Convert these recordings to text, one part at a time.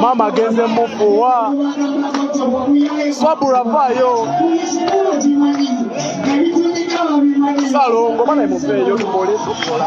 Mama agenze mufuwa sabula vaayo salongo bana muveeyo tukole tukola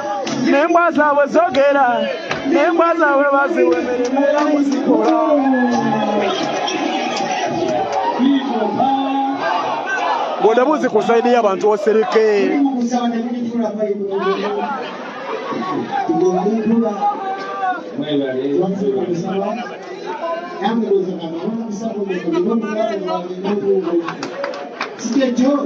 nembwa zaabwe zogera nembwa zaabwe baziwe mirimu era muzikola bodabuzi ku saidi y'abantu osereke Sijajua.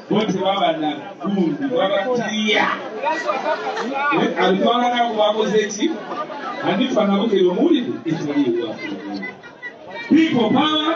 bo tebaba na gundi babatiya abitwala nabo bakoze ki anifa nabo kebamuwulidde etaliwa people power